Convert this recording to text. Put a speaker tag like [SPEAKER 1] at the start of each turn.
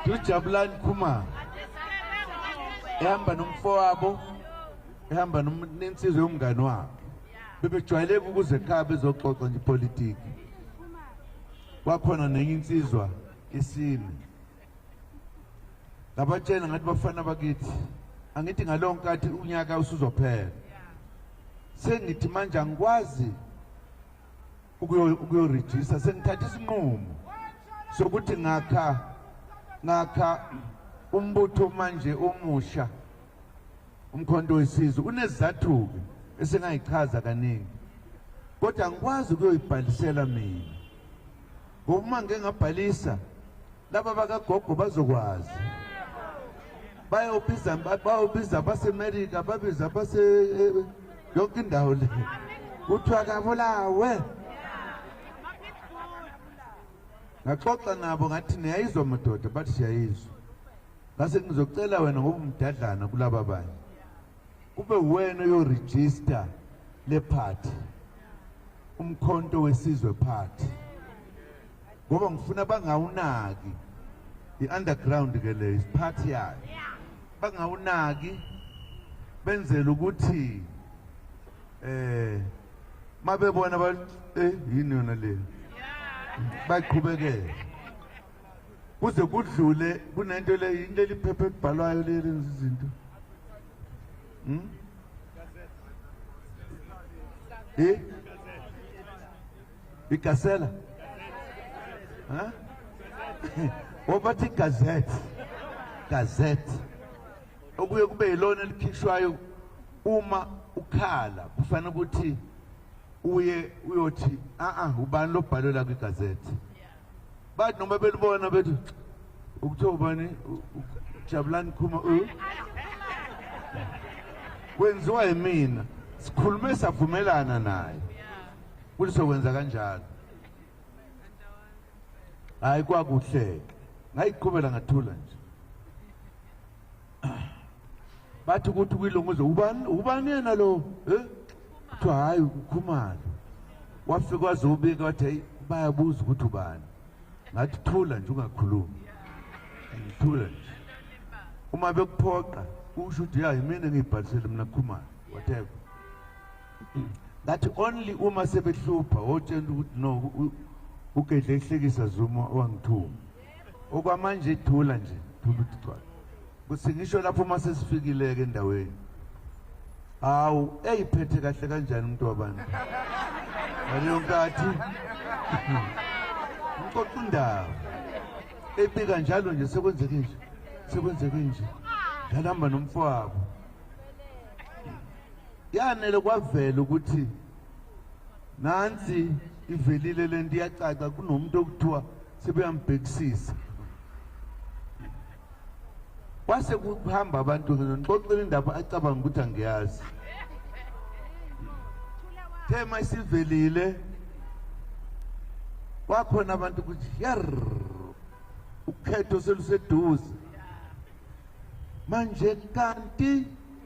[SPEAKER 1] Dujabulani Khumalo ehamba nomfowabo ehamba nensizwe yomngane wakhe bebejwayeleka ukuze ekhaya bezoxoxa nje ipolitiki kwakhona nenye insizwa isine ngabatshela ngathi bafana bakithi angithi ngaleyo nkathi unyaka usuzophela sengithi manje angikwazi ukuyorejista sengithatha isinqumo sokuthi ngakha ngakha umbutho manje omusha umkhonto wesizwe unezizathu-ke esingayichaza kaningi kodwa angikwazi ukuyoyibhalisela mina ngoba uma ngike ngabhalisa laba bakagogo bazokwazi bayobiza bayobiza basemerika babiza base eh, yonke indawo le kuthiwa kabulawe ngaxoxa nabo ngathi niyayizwa madoda bathi siyayizwa ngase ngizocela wena ngoba umdadlana kulaba banye kube wena oyorejista le party umkhonto wesizwe party ngoba ngifuna bangawunaki i-underground ke le isiphathi yayo bangawunaki benzele ukuthi eh mabebona ba eh yini yona le baqhubekele kuze kudlule kunento le yini leli phepha elibhalwayo leli lenza izinto hm eh Igasela. Huh? Wabathi gazette. Gazette. Okuye kube yilona elikhishwayo uma ukhala kufanele ukuthi uye uyothi a a ubani lobhalo la kwigazette. Bathi noma belibona bethi ukuthiwa ubani Jabulani Khuma u uh. kwenziwa yimina sikhulume savumelana naye Kuthi sokwenza kanjalo. Hayi kwakuhle. Ngayiqhubela ngathula nje. Bathi ukuthi kwilunguzo ubani ubani yena lo? Eh? Kuthiwa hayi ukhumalo. Wafika wazobika wathi bayabuza ukuthi ubani. Ngathi thula nje ungakhulumi. Ngithula nje. Uma bekuphoqa usho ukuthi ya yimina ngiyibhalisele mina khumalo. Whatever. that only uma sebehlupha otshela ukuthi no ugedle ehlekisa zuma wangithuma okwamanje ithula nje thula ukuthi gcwala kuthi ngisho lapho uma sesifikile-ke endaweni hawu eyiphethe kahle kanjani umuntu wabantu ngaleyo nkathi ngixoxa indaba ebika njalo nje sekwenzeke nje sekwenzeke nje ngalihamba nomfowabo Yanele kwavela ukuthi nansi ivelile le nto iyacaca kunomuntu okuthiwa sebeyambhekisisa kwase kuhamba abantu ngixoxela indaba acabanga ukuthi angiyazi thema isivelile kwakhona abantu ukuthi yar ukhetho seluseduze manje kanti